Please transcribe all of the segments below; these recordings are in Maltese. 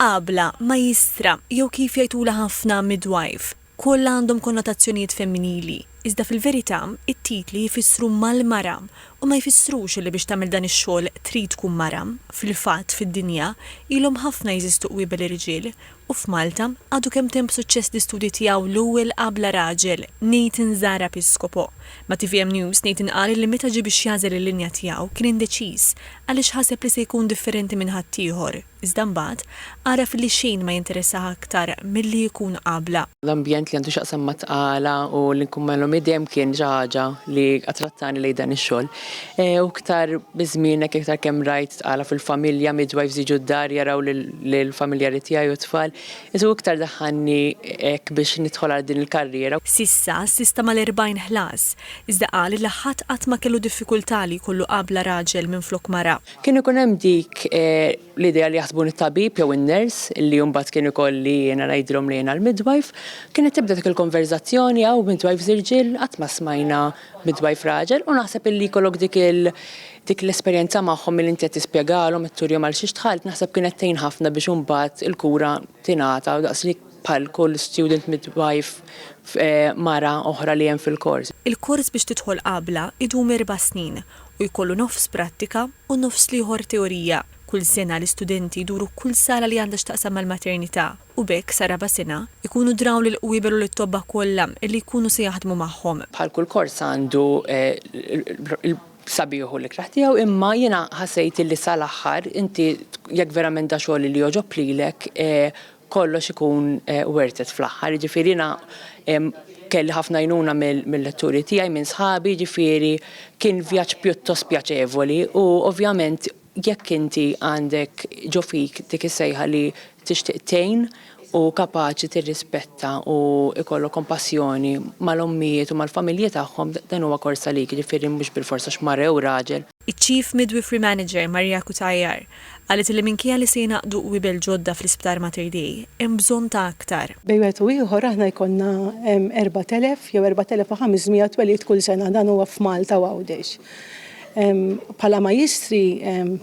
Għabla, majistra, jew kif jgħidulha ħafna midwife, kollha għandhom konnotazzjonijiet femminili, iżda fil-verità t-titli jfissru mal-mara u ma jfissrux li biex tagħmel dan ix-xogħol trid tkun mara. Fil-fatt, fid-dinja, ilhom ħafna jeżistu qwiebel irġiel, u f'Malta, għadu kemtempb'suċċess l-istudji tiegħu l-ewwel qabla raġel, Nathan Zahra Piscopo, Ma' tvm News, Nathan qal li meta ġie biex jagħżel il-linja tiegħu kien indeċiż għaliex ħaseb li se jkun differenti minn ħaddieħor, iżda mbagħad għaraf li xejn ma jinteressah aktar milli jkun qabla. L-ambjent li għandu x'jaqsam mat-tqala u li nkun magħhom id-dejjem kien xi ħaġa li attrattani lejn dan ix-xogħol. U iktar biż-żmien hekk iktar kemm rajt tqala fil-familja, midwives jiġu d-dar jaraw lill-familjari tiegħi u t-tfal, Iżda hu iktar daħħalni hekk biex nidħol għal din il-karriera. S'issa assista mal-40 ħlas, iżda qal li ħadd qatt ma kellu diffikultà li jkollu qabla raġel minflok mara. Kien ikun hemm dik l-idea li jaħsbuni t-tabib jew in-ners, li mbagħad kien ikolli jiena ngħidilhom li jiena l-midwife. Kienet tibda dik il-konverżazzjoni, hawn midwives irġiel? Qatt ma smajna midwife raġel u naħseb illi jkollok dik il dik l-esperjenza magħhom milli inti qed tispjegalhom qed turihom għal xiex dħalt naħseb kienet tgħin ħafna biex imbagħad il-kura tingħata daqs li bħal kull student midwife eh, mara oħra li hemm fil-kors. Il-kors biex tidħol qabla idum erba' snin u jkollu nofs prattika u nofs l-ieħor teorija. Kull sena l-istudenti jduru kull sala li għandha x'taqsam mal-maternità. u b'hekk sar-raba' sena, ikunu draw lill-qwieber u lit-tobba kollha li jkunu se jaħdmu magħhom. Bħal kull kors għandu l-sabiħ u l-ikraħ tiegħu imma jiena ħassejt illi sa l-aħħar inti jekk verament da xogħol li jogħġob lilek kollox ikun worth it fl-aħħar. Jiġifieri jiena kelli ħafna għajnuna mil-letturi tiegħi, minn sħabi, jiġifieri kien vjaġġ pjuttost pjaċevoli u ovvjament Jekk inti għandek ġo fik dik is-sejħa li tixtieq tgħin u kapaċi tirrispetta u jkollok kompassjoni mal-ommijiet u mal-familji tagħhom, dan huwa kors għalik, jiġifieri mhux bilfors għax mara jew raġel. Iċ-Chief Midwifery Manager Maria Cutajar qalet li minkejja li se jingħaqdu qwiebel ġodda fl-Isptar Mater Dei, hemm bżonn ta' aktar. Bejn wieħed u ieħor aħna jkollna 4,000 jew 4,500 twelid kull sena, dan huwa f'Malta u Għawdex. Bħala Majjistri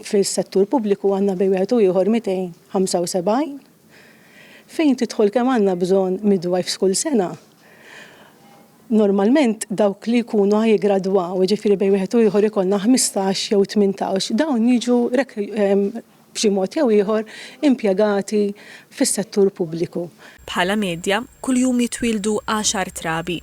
fis-settur pubbliku għandna bejn wieħed u ieħor 275. Fejn tidħol kemm għandna bżonn midwives kull sena? Normalment dawk li jkunu ħa jiggradwaw, jiġifieri bejn wieħed u ieħor ikollna 15 jew 18, dawn jiġu b'xi mod jew ieħor impjegati fis-settur pubbliku. Bħala medja, kuljum jitwieldu għaxar trabi.